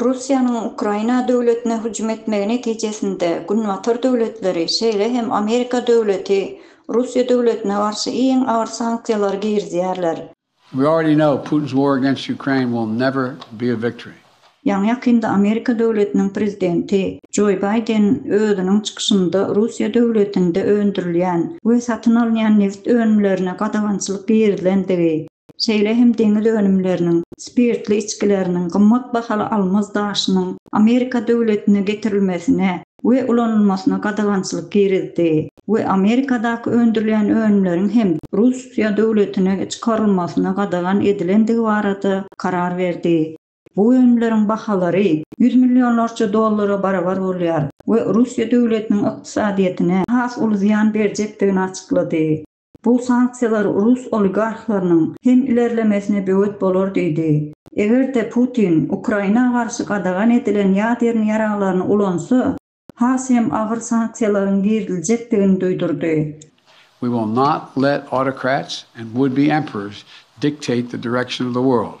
Russiýanyň Ukraina döwletine hüjüm etmegi netijesinde Günbatar döwletleri, şeýle hem Amerika döwleti Russiýa döwletine garşy iň agyr sanksiýalary girizýärler. Ýaňy-ýakynda Amerika döwletiniň prezidenti Joe Baýden özüniň çykyşynda Russiýa döwletinde öndürilýän we satyn alynýan nebit önümlerine gadagançylyk girizilendigi, şeýle hem deňiz önümleriniň, spirtli içgileriniň, gymmat bahaly almaz daşynyň Amerika döwletine getirilmesine we ulanylmasyna gadagançylyk girizdi we Amerikadaky öndürilýän önümleriň hem Russiýa döwletine çykarylmasyna gadagan edilendigi barada karar berdi. Bu önümleriň bahalary ýüz millionlarça dollara barabar bolýar we Russiýa döwletiniň ykdysadyýetine has uly zyýan berjekdigini açyklady. Bu sanksiýalar rus oligarhlarynyň hem ilerlemesine böwet bolar diýdi. Eger-de Putin Ukraina garşy gadagan edilen ýadern ýaraglaryny ulansa, has hem agyr sanksiýalaryň giriziljekdigini duýdurdy. We will not let autocrats and would-be emperors dictate the direction of the world.